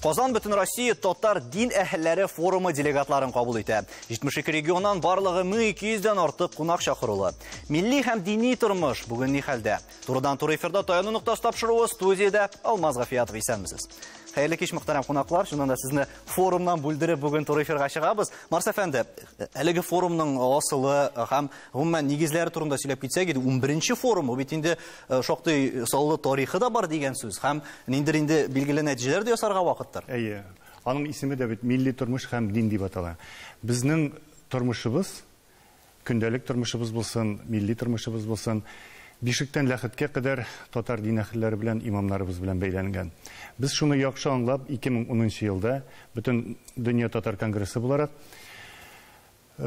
Казан бөтен Россия татар дин әһелләре форумы делегатларын кабул итә. 72 регионнан барлыгы 1200 дән артык кунак чакырулы. Милли һәм дини тормыш бүгін ни хәлдә? Турыдан туры эфирда таяну ноктасы тапшыруы студиядә Алмаз Гафиятов исәнмесез. Хәерле кич мөхтәрәм кунаклар. Шуннан да сезне форумнан бүлдереп бүген туры эфирга чыгабыз. Марс әфәнде, әлеге форумның асылы һәм гомумән нигезләре турында сөйләп китсәк иде, 11-нче форум, бит инде э, шактый саллы тарихы да бар дигән сүз һәм ниндер инде билгеле нәтиҗәләр дә ясарга вакыттыр. Әйе. Аның исеме дә бит милли тормыш һәм дин дип атала. Безнең тормышыбыз Көндәлек тормышыбыз булсын, милли тормышыбыз булсын, бишектән ләхеткә кадәр татар дин әһелләре белән, имамнарыбыз белән бәйләнгән. Без шуны яхшы аңлап, 2010 нчы елда Бөтен дөнья татар конгрессы буларак,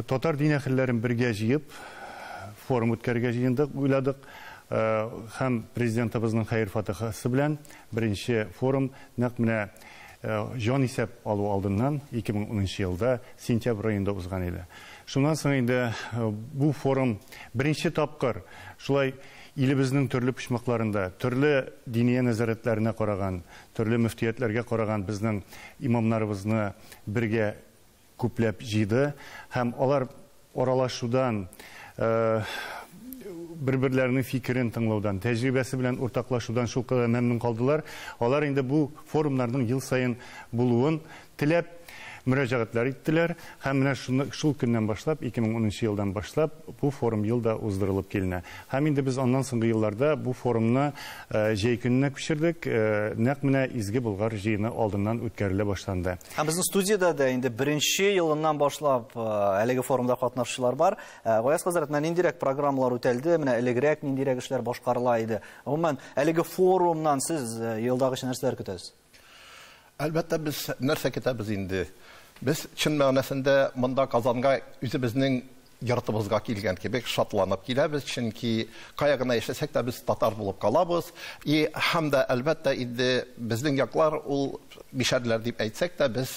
татар дин әһелләрен бергә җыеп, форум үткәрергә җыендык, уйладык. Һәм Президентыбызның хәер-фатыйхасы белән беренче форум нәкъ менә Җанисәп алу алдыннан, 2010 нчы елда, сентябрь аенда узган иде. Шуннан соң инде бу форум беренче тапкыр шулай илебезнең төрле почмакларында, төрле диния нәзарәтләренә караган, төрле мөфтиятләргә караган безнең имамнарыбызны бергә күпләп җыйды һәм алар аралашудан, бер-берләренең фикерен тыңлаудан, тәҗрибәсе белән уртаклашудан шулкадәр мәмнүн калдылар, алар инде бу форумнарның ел саен булуын теләп, мөрәҗәгатьләр иттеләр һәм менә шул көннән башлап, 2010 нчы елдан башлап, бу форум ел да уздырылып киленә. Һәм инде без аннан соңгы елларда бу форумны җәй көненә күчердек, нәкъ менә Изге Болгар җыены алдыннан үткәрелә башланды. Һәм безнең студиядә дә инде беренче елыннан башлап э, әлеге форумда катнашучылар бар. Э, Гаяз хәзрәт, менә ниндирәк программалар үтәлде, менә элегрәк ниндирәк эшләр башкарыла иде. Гомумән, әлеге форумнан сез э, елдагыча нәрсәләр көтәсез? Әлбәттә, без нәрсә көтәбез инде? Без чын мәгънәсендә монда Казанга үзебезнең Йортыбызга килгән кебек шатланып киләбез, чөнки кая гына яшәсәк тә без татар булып калабыз. И һәм дә әлбәттә инде безнең яклар ул мишәрләр дип әйтсәк тә без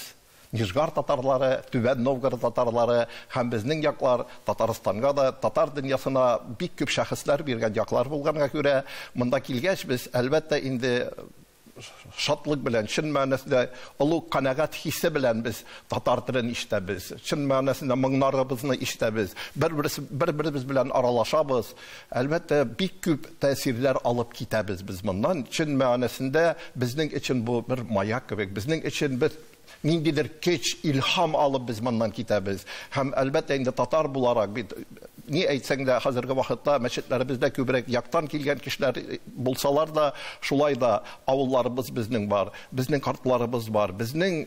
Нижгар татарлары, Түбән Новгород татарлары һәм безнең яклар Татарстанга да, татар дөньясына бик күп шәхесләр биргән яклар булганга күрә, монда килгәч без әлбәттә инде шатлык белән, чын мәгънәсендә олуг канәгать хисе белән без татар телен ишетәбез. Чын мәгънәсендә моңнарыбызны ишетәбез. Бер-беребез белән аралашабыз. Әлбәттә, бик күп тәэсирләр алып китәбез без моннан. Чын мәгънәсендә безнең өчен бу бер маяк кебек. Безнең өчен без ниндидер көч, илһам алып без моннан китәбез. Һәм, әлбәттә, инде татар буларак бит, ни әйтсәң дә, хәзерге вакытта мәчетләребездә күбрәк яктан килгән кешеләр э, булсалар да, шулай да авылларыбыз безнең бар, безнең картларыбыз бар, безнең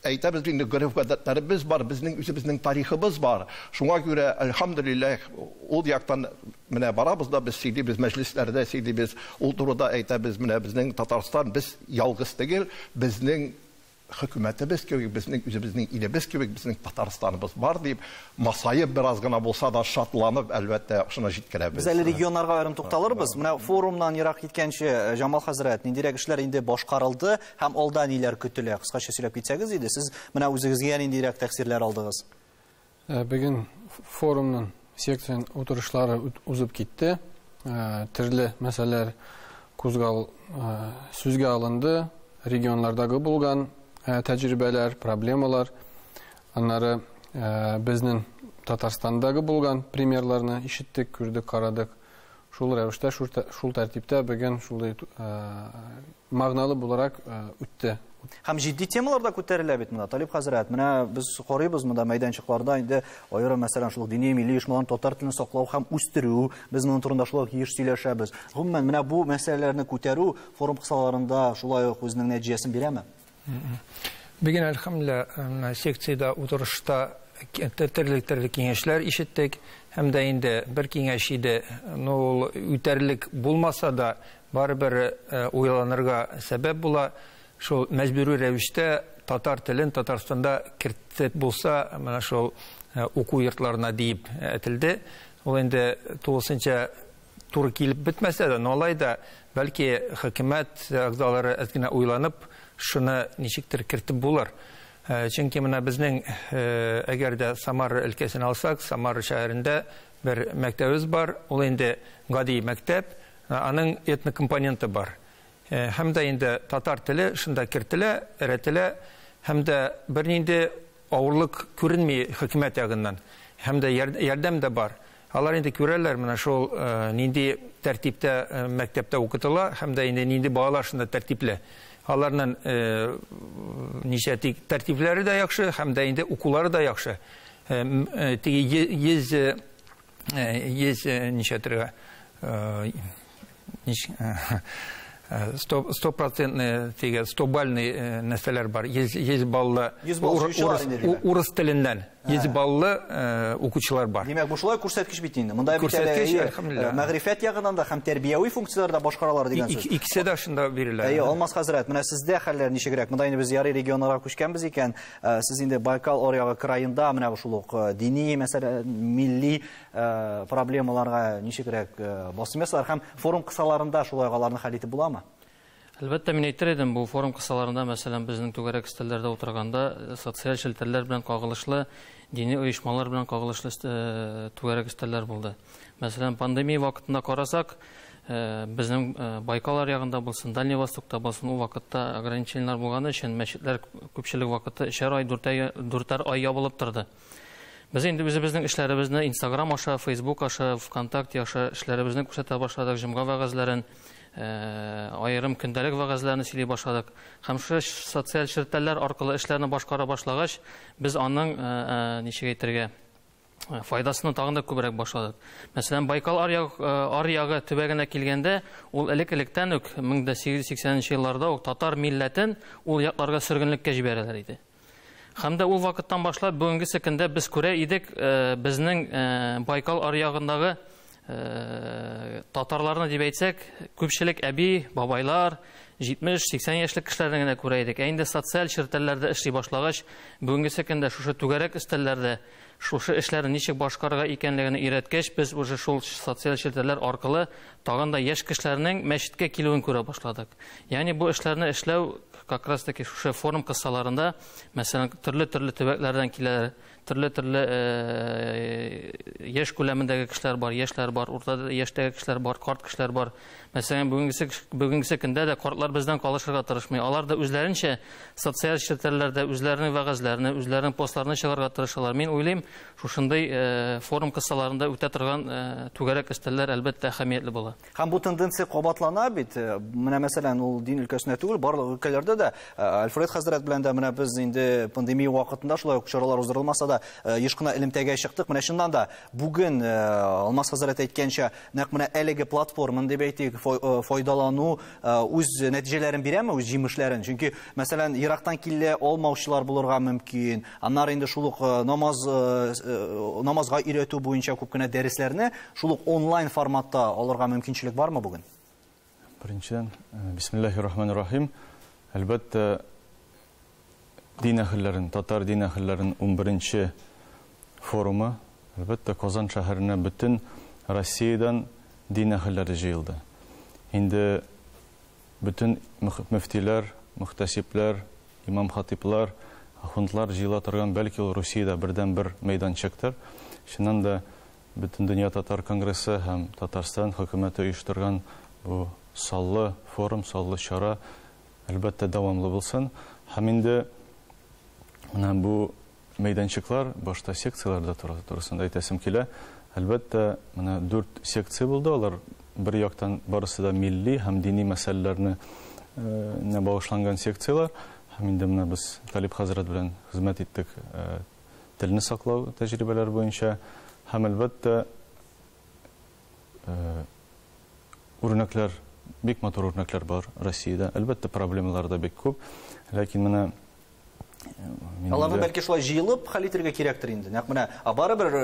әйтәбез инде гореф гадәтләребез бар, безнең үзебезнең тарихыбыз бар. Шуңа күрә, альхамдулиллах, ул яктан менә барабыз да без сөйлибез, мәҗлесләрдә сөйлибез, ул турыда әйтәбез, менә безнең Татарстан, без ялгыз түгел, безнең хөкүмәтебез кебек, безнең үзебезнең илебез кебек, безнең Татарстаныбыз бар дип, масаеп бераз гына булса да шатланып, әлбәттә, шуны җиткерәбез. Без әле регионнарга аерым тукталырбыз. Менә форумнан ерак киткәнче, э, Җамал хәзрәт, ниндирәк эшләр инде башкарылды һәм алда ниләр көтелә? Кыскача сөйләп китсәгез иде. Сез менә үзегезгә ниндирәк тәэсирләр алдыгыз? Ә бүген форумның секцион утырышлары узып китте. Ә, төрле мәсьәләләр кузгал ә, сүзгә алынды, регионлардагы булган ә, тәҗрибәләр, проблемалар, аннары ә, безнең Татарстандагы булган примерларны ишеттек, күрдек, карадык. Шул рәвештә, шул тәртиптә бөген шулай магналы буларак үтте. Һәм җитди темалар да күтәрелә бит монда, Талип хәзрәт. Менә без карыйбыз монда мәйданчыкларда инде аерым мәсәлән шул дини милли оешмаларның татар телен саклау һәм үстерү. Без моның турында шулай ук еш сөйләшәбез. Гомумән, менә бу мәсьәләләрне күтәрү форум кысаларында шулай ук үзенең нәтиҗәсен бирәме? Бүген әлхәмле секциядә утырышта төрле-төрле киңәшләр ишеттек һәм дә инде бер киңәш иде, ну ул үтәрлек булмаса да, барыбер уйланырга сәбәп була, шул мәҗбүри рәвештә татар телен Татарстанда кертеп булса, менә шул уку йортларына диеп әтелде, ул инде тулысынча туры килеп бетмәсә дә, но алай да, бәлки, хөкүмәт әгъзалары әз генә уйланып, шуны ничектер кертеп булыр. Э, чөнки менә безнең, э, әгәр дә Самара өлкәсен алсак, Самара шәһәрендә бер мәктәбебез бар, ул инде гади мәктәп, э, аның этно компоненты бар. Һәм дә инде татар теле шунда кертелә, эрәтелә, һәм дә бернинди авырлык күренми хөкүмәт ягыннан, һәм дә ярдәм дә бар. Алар инде күрәләр, менә шул нинди тәртиптә мәктәптә укытыла һәм дә инде нинди балалар шунда тәртипле. Аларның ничә тик тәртипләре дә яхшы һәм дә инде укулары да яхшы. Теге 100 100 ничә төрә стопроцентный теге стобальный э, нәрсәләр бар йөз йөз баллы урыс теленнән йөз баллы э, укучылар бар димәк бу шулай күрсәткеч бит инде монда бит әле э, мәгърифәт ягыннан да һәм тәрбияви функцияләрдә башкаралар дигән сүз икесе дә шунда бирелә әйе алмаз хәзрәт менә сездә хәлләр ничегрәк монда инде без ярый регионнарга күчкәнбез икән сез инде байкал аръягы краенда менә шул ук дини мәсәлә милли Ә проблемаларга ничегрәк басым ясар һәм форум кысаларында шулай аларны хәл итеп буламы? Әлбәттә, мин әйтер идем, бу форум кысаларында, мәсәлән, безнең түгәрәк өстәлләрдә утырганда, социаль челтәрләр белән кагылышлы, дини оешмалар белән кагылышлы түгәрәк өстәлләр булды. Мәсәлән, пандемия вакытында карасак, безнең Байкал аръягында булсын, Дальний Востокта булсын, ул вакытта ограничениеләр булганы өчен мәчетләр күпчелек вакыты өчәр ай, дүртәр ай ябылып торды. Без инде үзебезнең эшләребезне Instagram аша, Facebook аша, ВКонтакте аша эшләребезне күрсәтә башладык, җомга вәгазьләрен, э, аерым көндәлек вәгазьләрен сөйли башладык. Һәм шушы социаль челтәрләр аркылы эшләрне башкара башлагач, без аның э, э, ничек әйтергә, Э, файдасына тагын да күбрәк башладык. Мәсәлән, Байкал аръягы э, төбәгенә килгәндә, ул элек-электән үк 1880 елларда ук татар милләтен ул якларга сөргенлеккә җибәрәләр иде. Һәм дә ул вакыттан башлап бүгенгесе көндә без күрә идек, э, безнең э, Байкал аръягындагы э, татарларны дип әйтсәк, күпчелек әби, бабайлар, 70-80 яшьлек кешеләрне генә күрә идек. Ә инде социаль челтәрләрдә эшли башлагач, бүгенгесе көндә шушы түгәрәк өстәлләрдә Шушы эшләрне ничек башкарырга икәнлегене өйрәткәч, без уже шул социаль челтәрләр аркылы тагын да яшь кешеләрнең мәчеткә килүен күрә башладык. Ягъни бу эшләрне эшләү как раз таки шушы форум кысаларында, мәсәлән, төрле-төрле төбәкләрдән киләләр, төрле-төрле яшь күләмендәге кешеләр бар, яшьләр бар, урта яшьтәге кешеләр бар, карт кешеләр бар. Мәсәлән, бүгенгесе, бүгенгесе көндә дә картлар бездән калышырга тырышмый. Алар да үзләренчә социаль челтәрләрдә үзләренең вәгазьләрне, үзләренең постларны чыгарга тырышалар. Мин уйлыйм, шушындый э, форум кысаларында үтә торган э, түгәрәк өстәлләр әлбәттә әһәмиятле була. Һәм бу тенденция кабатлана бит. Э, менә мәсәлән, ул дин өлкәсенә түгел, барлык өлкәләрдә дә Альфред хәзрәт белән дә менә без инде пандемия вакытында шулай ук чаралар уздырылмаса да еш кына элемтәгә чыктык. Менә чыннан да бүген Алмаз хәзрәт әйткәнчә Нәкъ менә әлеге платформаны дип әйтик, файдалану үз нәтиҗәләрен бирәме, үз җимешләрен? Чөнки, мәсәлән, ерактан килә алмаучылар булырга мөмкин. Аннары инде шул ук намаз намазга өйрәтү буенча күп кенә дәресләрне шул ук онлайн форматта алырга мөмкинчелек бармы бүген? Беренчедән, бисмиллахи рахмани рахим. Әлбәттә, дин әһелләрен, татар дин әһелләрен 11-нче форумы, әлбәттә, Казан шәһәренә бөтен Россиядән дин әһелләре җыелды. Инде бөтен мөфтиләр, мөхтәсибләр, имам-хатиблар, ахундлар җыела торган, бәлки ул Русиядә бердәнбер мәйданчыктыр. Чыннан да, Бөтендөнья татар конгрессы һәм Татарстан хөкүмәте оештырган бу саллы форум, саллы чара, әлбәттә, дәвамлы булсын. Һәм инде менә бу мәйданчыклар, башта секцияләрдә турысында әйтәсем килә. Әлбәттә, менә дүрт секция булды, алар бер яктан барысы да милли һәм дини мәсьәләләрне э, багышланган секцияләр. Һәм инде менә без Талип хәзрәт белән хезмәт иттек э, телне саклау тәҗрибәләре буенча һәм, әлбәттә, үрнәкләр, бик матур үрнәкләр бар Россиядә. Әлбәттә, проблемалар да бик күп, ләкин менә Аларны бәлки шулай җыелып хәл итергә кирәктер инде. Нәкъ менә барыбер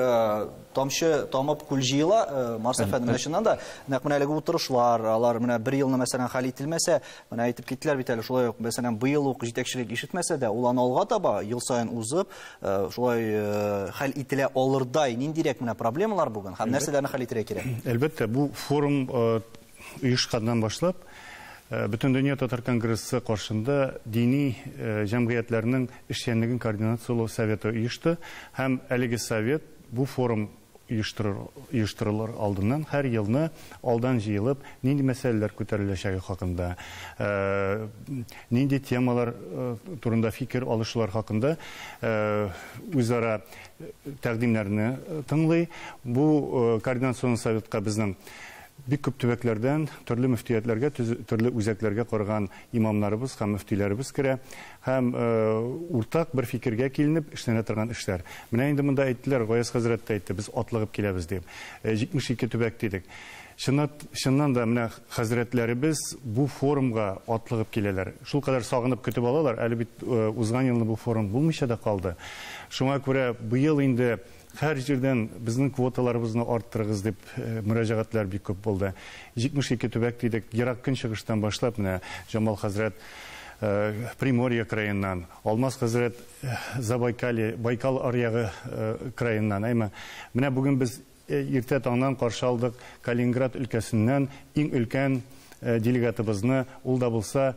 тамчы тамып күл җыела, Марс әфәнде менә чыннан да нәкъ менә әлеге утырышлар, алар менә бер елны мәсәлән хәл ителмәсә, Менә әйтеп киттеләр бит әле шулай ук, мәсәлән, быел ук җитәкчелек ишетмәсә дә, ул аны алга таба ел саен узып, э, шулай э, хәл ителә алырдай ниндирәк менә проблемалар бүген һәм нәрсәләрне хәл итәргә кирәк? Әлбәттә, бу форум э, оешканнан башлап бөтен дөнья татар конгрессы каршында дини җәмгыятьләрнең эшчәнлеген координацияләү советы оешты һәм әлеге совет бу форум оештырылыр алдыннан һәр елны алдан җыелып, нинди мәсьәләләр күтәреләчәге хакында, нинди темалар турында фикер алышулар хакында үзара тәкъдимнәрне тыңлый. Бу координацион советка безнең бик күп төбәкләрдән, төрле мөфтиятләргә, төрле үзәкләргә караган имамнарыбыз һәм мөфтиләребез керә. Һәм уртак бер фикергә киленеп эшләнә торган эшләр. Менә инде монда әйттеләр, Гаяз хәзрәт тә әйтте, без атлыгып киләбез дип. 72 төбәк дидек. Чыннан да менә хәзрәтләребез бу форумга атлыгып киләләр. Шулкадәр сагынып көтеп алалар. Әле бит узган елны бу форум булмыйча да калды. Шуңа күрә быел инде Һәр җирдән безнең квоталарыбызны арттырыгыз дип мөрәҗәгатьләр бик күп булды. 72 төбәк дидек, ерак көнчыгыштан башлап, менә Җамал хәзрәт Приморье краеннан, Алмаз хәзрәт Забайкалье, Байкал аръягы краеннан, әмма менә бүген без иртә таңнан каршы алдык Калининград өлкәсеннән иң өлкән делегатыбызны, ул да булса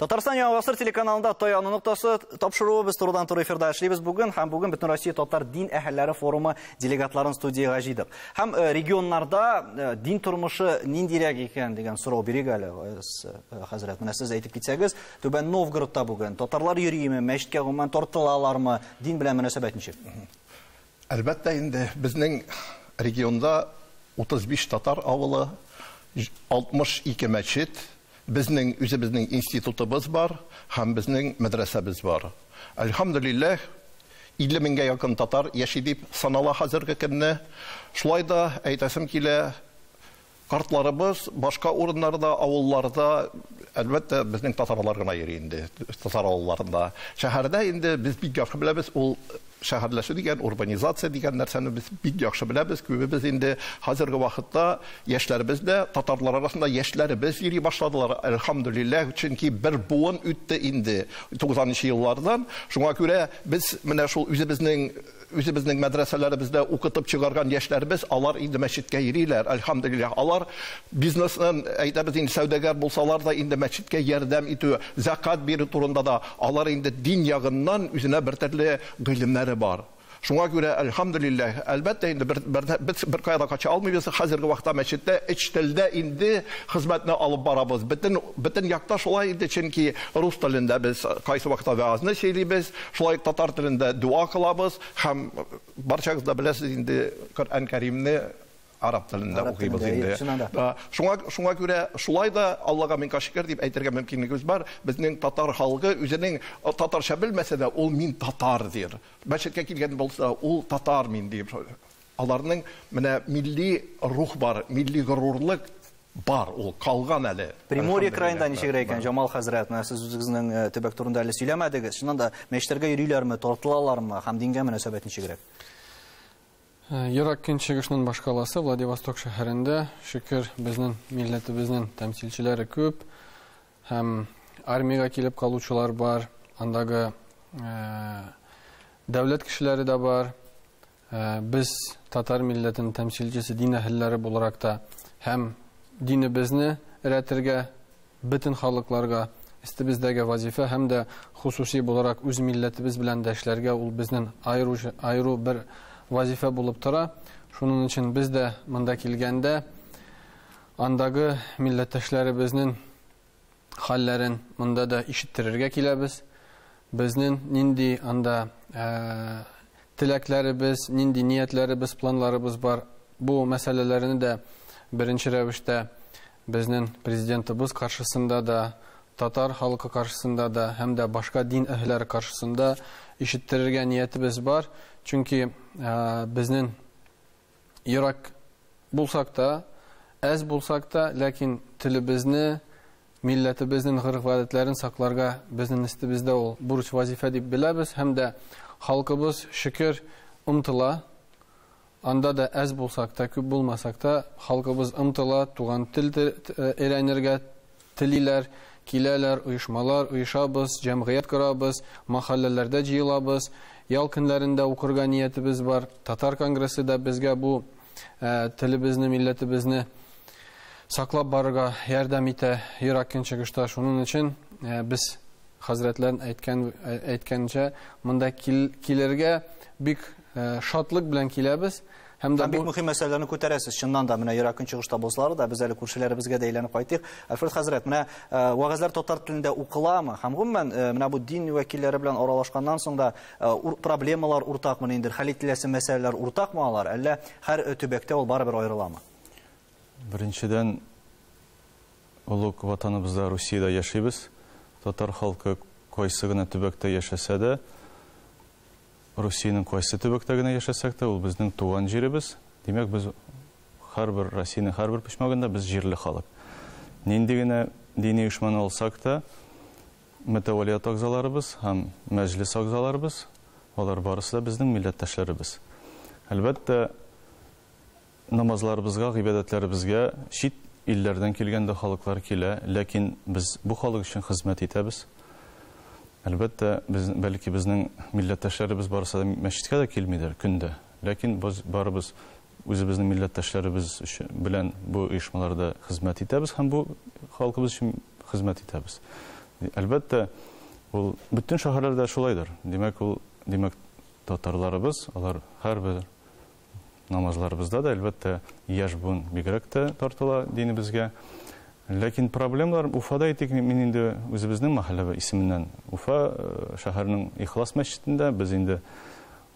Татарстан яңа гасыр телеканалында Таяну ноктасы тапшыруы без турыдан туры эфирда эшлибез бүген һәм бүген бөтен Россия татар дин әһелләре форумы делегатларын студиягә җыйдык. Һәм э, регионнарда э, дин тормышы ниндирәк икән дигән сорау бирик әле э, хәзрәт. Менә сез әйтеп китсәгез, Түбән Новгородта бүген татарлар йөриме, мәчеткә гомумән тартылалармы, дин белән мөнәсәбәт ничек? Әлбәттә инде, безнең регионда 35 татар авылы, 62 мәчет, безнең үзебезнең институтыбыз бар һәм безнең мәдрәсәбез бар. Әлхәмдүлилләһ, 50 меңгә якын татар яши дип санала хәзерге көнне. Шулай да әйтәсем килә, Картларыбыз башка урыннарда, авылларда, әлбәттә, безнең татарлар гына йөри инде, татар авылларында. Шәһәрдә инде без бик яхшы беләбез, ул шәһәрләшү дигән, урбанизация дигән нәрсәне без бик яхшы беләбез. Күбебез инде хәзерге вакытта яшьләребез дә татарлар арасында яшьләребез йөри башладылар, әлхәмдүлилләһ, чөнки бер буын үтте инде 90 нчы еллардан. Шуңа күрә без менә шул үзебезнең Үзебезнең мәдрәсәләребездә укытып чыгарган яшьләребез, алар инде мәчеткә йөриләр, альхамдулиллаһ. Алар бизнесны, әйтәбез инде, сәүдәгәр булсалар да, инде мәчеткә ярдәм итү, зәкат бирү турында да, алар инде дин ягыннан үзенә бертөрле гыйлемнәре бар. Шуңа күрә, альхамдулиллаһ, әлбәттә инде, бер, бердә, без беркая да кача алмыйбыз, хәзерге вакытта мәчеттә өч телдә инде хезмәтне алып барабыз. Бөтен, бөтен якта шулай инде, чөнки рус телендә без кайсы вакытта вәгазьне сөйлибез, Шулай ук татар телендә дуа кылабыз һәм барчагыз да беләсез инде, Коръән Кәримне араб телендә укыйбыз инде. Шуңа шуңа күрә шулай да Аллага мин кашикер дип әйтергә мөмкинлегебез бар. Безнең татар халкы үзенең татарча белмәсә дә, ул мин татар дир. Мәчеткә килгән булса, ул татар мин дип Аларның менә милли рух бар, милли горурлык бар, ул калган әле. Приморье краенда ничегрәк икән, Җамал хәзрәт? Менә сез үзегезнең төбәк турында әле сөйләмәдегез. Чыннан да, мәчетләргә йөриләрме, тартылалармы һәм дингә мөнәсәбәт ничегрәк? Ерак Көнчыгышның башкаласы Владивосток шәһәрендә, шөкер, безнең милләтебезнең тәмсилчеләре күп һәм армиягә килеп калучылар бар, андагы дәүләт кешеләре дә бар. Ә, без татар милләтенең тәмсилчесе дин әһелләре буларак та һәм динебезне рәтергә бөтен халыкларга истебездәге вазифа һәм дә хусуси буларак үз милләтебез белән дә эшләргә ул безнең айру айру бер вазифа булып тора. Шуның өчен без дә монда килгәндә андагы милләттәшләребезнең хәлләрен монда да ишеттерергә киләбез. Безнен нинди анда теләкләребез, нинди ниятләребез, планларыбыз бар, бу мәсьәләләрне дә беренче рәвештә безнен президентыбыз каршысында да, татар халкы каршысында да һәм дә башка дин әһелләре каршысында ишеттерергә ниятебез бар. Чөнки безнен Ерак булсак та, әз булсак та, ләкин телебезне, милләтебезнен гореф-гадәтләрен сакларга безнен истебездә ул бурыч-вазифә дип беләбез һәм дә халкыбыз, шөкер, омтыла. Анда да әз булсак та, күп булмасак та, халкыбыз омтыла, туган тел өйрәнергә, Телиләр, киләләр, оешмалар оешабыз, җәмгыять корабыз, мәхәлләләрдә җыелабыз. Ял көннәрендә укырга ниятебез бар. Татар конгрессы да безгә бу телебезне, милләтебезне саклап барырга ярдәм итә ерак көнчыгышта. Шуның өчен без хәзрәтләр әйткән, әйткәнчә, монда килергә бик Э, шатлык белән киләбез. Һәм дә бик мөһим мәсьәләләрне күтәрәсез. Чыннан да, менә Ира Көнчыгыш табылсалар да, без әле күршеләребезгә дә әйләнеп кайтыйк. Альфред хәзрәт, менә э, вәгазьләр татар телендә укыламы? Һәм гомумән, э, менә бу дин вәкилләре белән аралашканнан соң да проблемалар уртакмы инде, хәл ителәсе мәсьәләләр уртакмы алар, әллә һәр төбәктә ул барыбер аерыламы? Беренчедән, олуг ватаныбызда Русиядә яшибез. Татар халкы кайсы гына төбәктә яшәсә дә, Русиянең кайсы төбәктә генә яшәсәк тә, ул безнең туган җиребез. Димәк, без һәрбер Россиянең һәрбер почмагында без җирле халык. Нинди генә дини оешманы алсак та, мөтәвәлият агзаларыбыз һәм мәҗлес агзаларыбыз, алар барысы да безнең милләттәшләребез. Әлбәттә, Намазларыбызга, гыйбадәтләребезгә чит илләрдән килгән дә халыклар килә, ләкин без бу халык өчен хезмәт итәбез. Әлбәттә, без, бәлки, безнең милләттәшләребез барысы да мәчеткә дә килмидер көн дә, ләкин без барыбыз үзебезнең милләттәшләребез өчен, белән бу оешмаларда хезмәт итәбез һәм бу халкыбыз өчен хезмәт итәбез. Әлбәттә, ул бөтен шәһәрләрдә шулайдыр. Димәк, ул, димәк, татарларыбыз, алар һәрбер Намазларыбызда да, әлбәттә, яшь буын бигрәк тә тартыла динебезгә. Ләкин проблемалар Уфада әйтик, мин инде үзебезнең мәхәллә исеменнән Уфа э, шәһәренең Ихлас мәчетендә без инде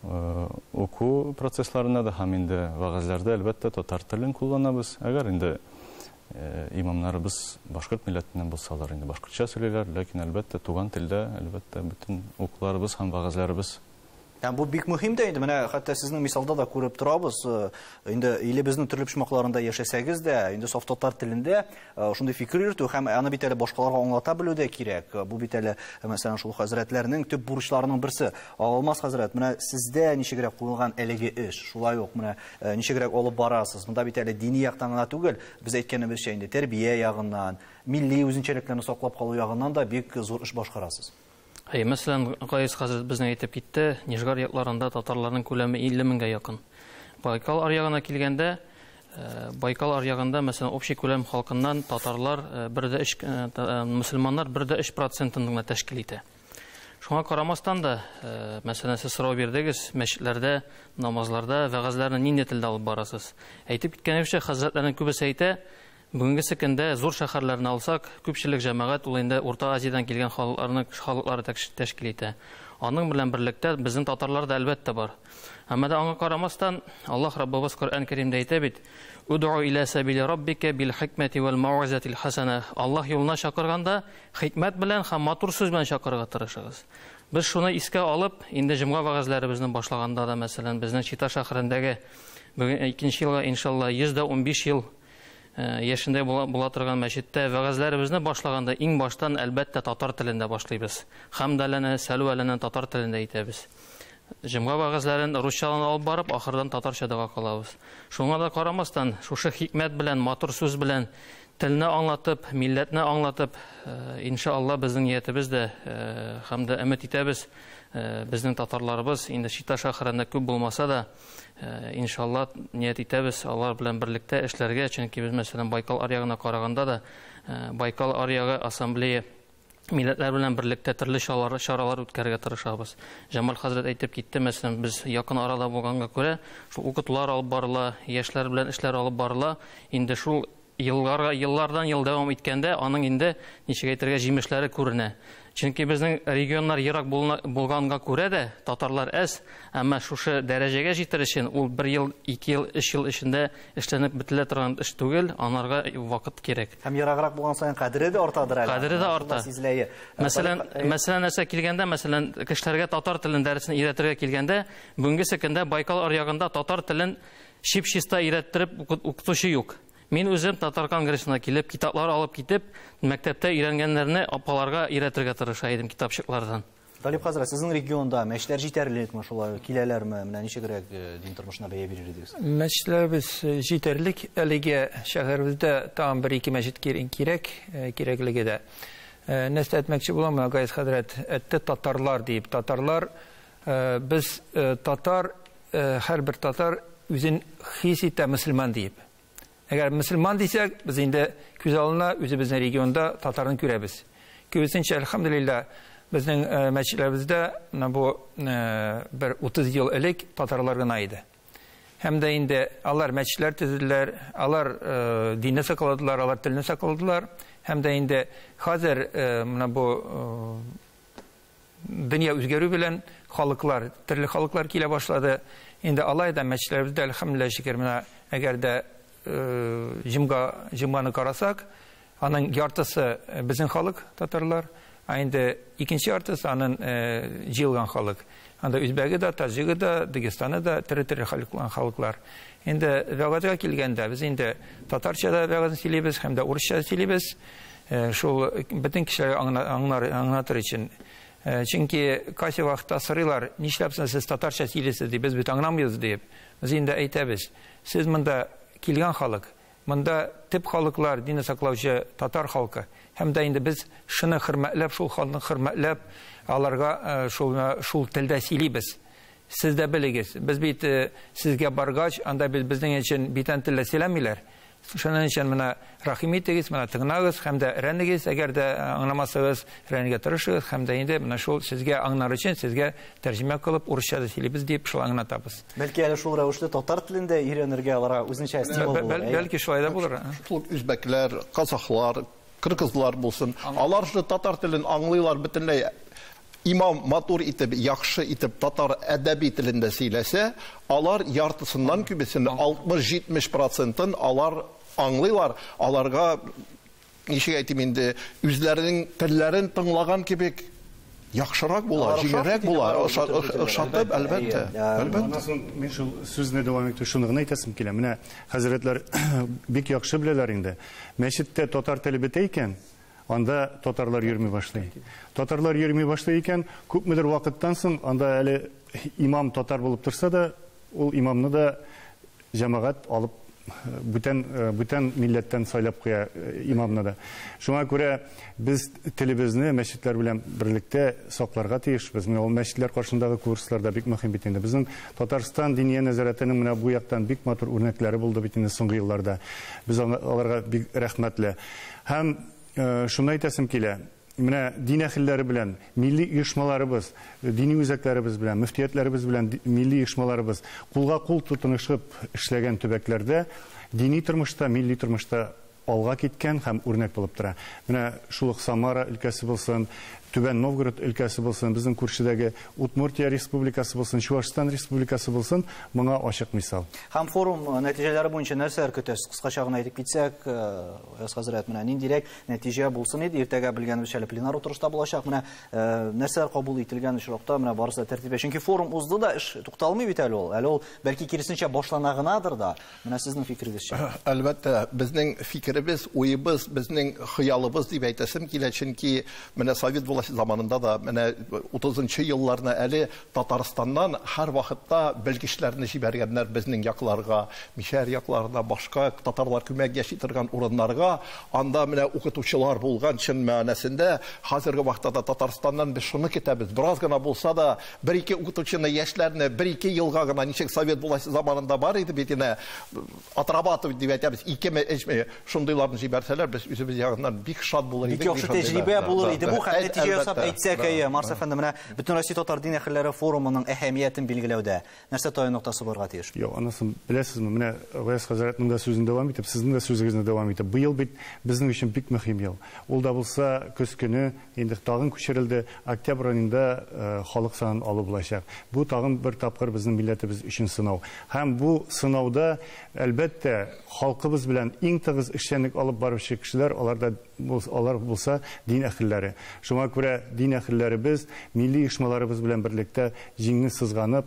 э, уку процессларында да һәм инде вәгазьләрдә әлбәттә татар телен кулланабыз. Әгәр инде э, имамнарыбыз башкорт милләтеннән булсалар, инде башкортча сөйлиләр, ләкин әлбәттә туган телдә, әлбәттә бөтен укуларыбыз һәм вәгазьләребез Һәм бу бик мөһим дә инде, менә хәтта сезнең мисалда да күреп торабыз, э, инде илебезнең төрле почмакларында яшәсәгез дә, инде саф татар телендә э, шундый фикер йөртү һәм аны бит әле башкаларга аңлата белү дә кирәк. Э, бу бит әле, мәсәлән, шул хәзрәтләрнең төп бурычларының берсе. Алмаз хәзрәт, менә сездә ничегрәк куелган әлеге эш, шулай ук менә ничегрәк алып барасыз. Монда бит әле дини яктан гына түгел, без әйткәнебезчә инде тәрбия ягыннан, милли үзенчәлекләрне саклап калу ягыннан да бик зур эш башкарасыз. Әйе, мәсәлән, Гаяз хәзрәт безнең әйтеп китте, Нижгар якларында татарларның күләме 50 меңгә якын. Байкал аръягына килгәндә, э, Байкал аръягында, мәсәлән, общий күләм халкыннан татарлар 1,3 э, э, мусульманнар 1,3 процентын гына тәшкил итә. Шуңа карамастан да, э, мәсәлән, сез сорау бирдегез, мәчетләрдә, намазларда, вәгазьләрне нинди телдә алып барасыз? Әйтеп киткәнебезчә, хәзрәтләрнең күбесе әйтә, Бүгенгесе көндә зур шәһәрләрне алсак, күпчелек җәмәгать ул инде Урта Азиядән килгән халыкларны халыклары тәшкил итә. Аның белән берлектә безнең татарлар да әлбәттә бар. Әмма да аңа карамастан, Аллаһ Раббыбыз Коръән Кәримдә әйтә бит, Удгу илә сәбиле Раббика бил хикмәти вәл мауазатил хасана. Аллаһ юлына чакырганда, хикмәт белән һәм матур сүз белән чакырырга тырышыгыз. Без шуны искә алып, инде җомга вәгазьләребезне башлаганда да, мәсәлән, безнең Чита шәһәрендәге бүген икенче елга, иншалла, 115 ел яшендә була, була торган мәчеттә вәгазьләребезне башлаганда иң баштан әлбәттә татар телендә башлыйбыз. Хамдаләне, сәлвәләне татар телендә әйтәбез. Җомга вәгазьләрен русчадан алып барып, ахырдан татарча дога кылабыз. Шуңа да карамастан, шушы хикмәт белән, матур сүз белән телне аңлатып, милләтне аңлатып, э, иншалла безнең ниятебез дә э, һәм дә өмет итәбез, э, безнең татарларыбыз инде Чита шәһәрендә күп булмаса да, Э, иншалла ният итәбез алар белән берлектә эшләргә чөнки без мәсәлән байкал аръягына караганда да э, байкал аръягы ассамблея милләтләр белән берлектә төрле чаралар үткәрергә тырышабыз җамал хәзрәт әйтеп китте мәсәлән без якын арада булганга күрә шул укытулар алып барыла яшьләр белән эшләр алып барыла инде шул Елларга, еллардан ел дәвам иткәндә, аның инде, ничек әйтергә, җимешләре күренә. Чөнки безнең регионнар ерак булна, булганга күрә дә, татарлар әз, әмма шушы дәрәҗәгә җитер өчен ул бер ел, ике ел, өч ел эчендә эшләнеп бетелә торган эш түгел, анарга вакыт кирәк. Һәм ераграк булган саен кадере дә артадыр әле. Кадере дә арта. Сизеләе. Мәсәлән, мәсәлән нәрсә килгәндә, мәсәлән, кешеләргә татар телен дәресен өйрәтергә килгәндә, бүгенгесе көндә Байкал аръягында татар телен Чип-чиста өйрәттереп укытучы юк. Мин үзем Татар конгрессына килеп, китаплар алып китеп, мәктәптә өйрәнгәннәрне апаларга өйрәтергә тырыша идем китапчыклардан. Талип хәзрәт, сезнең регионда мәчетләр җитәрлекме, шулай киләләрме? Менә ничегрәк дин тормышына бәя бирер идегез? Мәчетләребез җитәрлек. Әлегә шәһәребездә тагын бер-ике мәчет кирәк, кирәклеге дә. Нәрсә әйтмәкче булам, менә Гаяз хәзрәт әйтте, татарлар диеп. Татарлар Без татар, һәрбер татар үзен хис итә мөселман диеп. Әгәр мөселман дисәк, без инде күз алдына үзебезнең регионда татарны күрәбез. Киресенчә, әлхәмдулилла, безнең мәчетләребездә менә бу бер 30 ел элек татарлар гына иде. Һәм дә инде алар мәчетләр төзеделәр, алар динне сакладылар, алар телне сакладылар. Һәм дә инде хәзер менә бу Дөнья үзгәрү белән халыклар, төрле халыклар килә башлады. Инде алай да мәчетләребездә, әлхәмдүлилләһ шөкер, менә әгәр дә җомга, җомганы карасак, аның яртысы безнең халык, татарлар, а инде икенче яртысы аның җыелган халык. Анда үзбәге дә, таҗигы да, дагестаны да, төрле-төрле халыклар. Инде вәгазьгә килгәндә, без инде татарча да вәгазь сөйлибез һәм дә урысча да сөйлибез. Шул бөтен кешеләр аңнар, аңнатыр өчен. Чөнки кайсы вакытта сорыйлар, нишләп сез татарча сөйлисез дип, без бит аңламыйбыз дип. Без инде әйтәбез. Сез монда килгән халык. Монда төп халыклар динне саклаучы татар халкы. Һәм дә инде без шуны хөрмәтләп, шул халыкны хөрмәтләп, аларга шул, шул телдә сөйлибез. Сез дә белегез, без бит сезгә баргач, анда бит безнең өчен битән телдә сөйләмиләр. Шуның өчен менә рәхим итегез, менә тыңнагыз һәм дә рәнегез, әгәр дә аңламасагыз, рәнегә тырышыгыз һәм дә инде менә шул сезгә аңнар өчен сезгә тәрҗемә кылып урысча да сөйлибез дип шулай аңнатабыз. Бәлки әле шул рәвешле татар телен дә өйрәнергә аларга үзенчә стимул булыр. Бәл, бәлки шулай да булыр. Шул үзбәкләр, казахлар, кыргызлар булсын. Алар же татар телен аңлыйлар бөтенләй. Имам матур итеп, яхшы итеп татар әдәби телендә сөйләсә, алар яртысыннан күбесен, 60-70 процентын алар аңлыйлар, аларга ничек әйтим инде, үзләренең телләрен тыңлаган кебек яхшырак була, җиңелрәк була, ошатып, әлбәттә. Моннан соң мин шул сүзне дәвам итү шуны гына әйтәсем килә. Менә хәзрәтләр бик яхшы беләләр инде. Мәчеттә татар теле бетә икән, Анда татарлар йөрми башлый. Татарлар йөрми башлый икән, күпмедер вакыттан соң анда әле имам татар булып торса да, ул имамны да җәмәгать алып бүтән э, бүтән милләттән сайлап куя э, имамны да. Шуңа күрә без телебезне мәчетләр белән берлектә сакларга тиешбез. Менә ул мәчетләр каршындагы курслар да бик мөһим бит инде. Безнең Татарстан диния нәзарәтенең менә бу яктан бик матур үрнәкләре булды бит инде соңгы елларда. Без аларга бик рәхмәтле. Һәм шуны әйтәсем килә, менә дин әһелләре белән, милли оешмаларыбыз, дини үзәкләребез белән, мөфтиятләребез белән милли оешмаларыбыз кулга-кул тотынышып эшләгән төбәкләрдә дини тормышта, милли тормышта алга киткән һәм үрнәк булып тора. Менә шул ук Самара өлкәсе булсын, Түбән Новгород өлкәсе булсын, безнең күршедәге Удмуртия республикасы булсын, Чувашстан республикасы булсын, моңа ачык мисал. Һәм форум нәтиҗәләре буенча нәрсәләр көтәсез? Кыскача гына әйтеп китсәк, Аяз хәзрәт, менә ниндирәк нәтиҗә булсын иде? Иртәгә белгәнебезчә әле пленар утырышта булачак. Менә нәрсәләр кабул ителгән очракта, менә барысы да тәртипкә. Чөнки форум узды да, эш тукталмый бит әле ул. Әле ул бәлки киресенчә башлана гынадыр да. Менә сезнең фикерегезчә. Әлбәттә, безнең фикеребез, уебыз, безнең хыялыбыз дип әйтәсем килә, чөнки менә совет власте заманында да, менә утызынчы елларны әле Татарстаннан һәрвакытта белгечләрне җибәргәннәр безнең якларга, мишәр якларына, башка татарлар күбрәк яши торган урыннарга. Анда менә укытучылар булган, чын мәгънәсендә. Хәзерге вакытта да Татарстаннан без шуны көтәбез, бераз гына булса да Бер-ике укытучыны, яшьләрне бер-ике елга гына, ничек совет власте заманында бар иде бит инде, отрабатывать дип әйтәбез, икеме, өчме, шундыйларны җибәрсәләр, без үзебез ягыннан бик шат булыр идек. Бик яхшы тәҗрибә булыр иде бу, һәм нәтиҗә ясап әйтсәк, әйе, Марс әфәнде, менә Бөтенроссия татар дин әһелләре форумының әһәмиятен билгеләүдә нәрсә таян ноктасы булырга тиеш? Юк, анысын беләсезме, менә Гаяз хәзрәтнең дә сүзен дәвам итеп, сезнең дә сүзегезне дәвам итеп, быел бит безнең өчен бик мөһим ел. Ул да булса, көз көне, Инде тагын күчерелде. Октябрь аенда халык санын алу булачак. Бу тагын бер тапкыр безнең милләтебез өчен сынау. Һәм бу сынауда, әлбәттә, халкыбыз белән иң тыгыз эшчәнлек алып баручы кешеләр, алар да алар булса дин әһелләре. Шуңа күрә дин әһелләребез, милли оешмаларыбыз белән берлектә җиңне сызганып,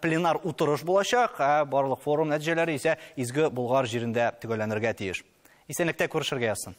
Пленар утырыш булачак, ә барлык форум нәтиҗәләре исә Изге Болгар җирендә төгәлләнергә тиеш. Исәнлектә күрешергә язсын.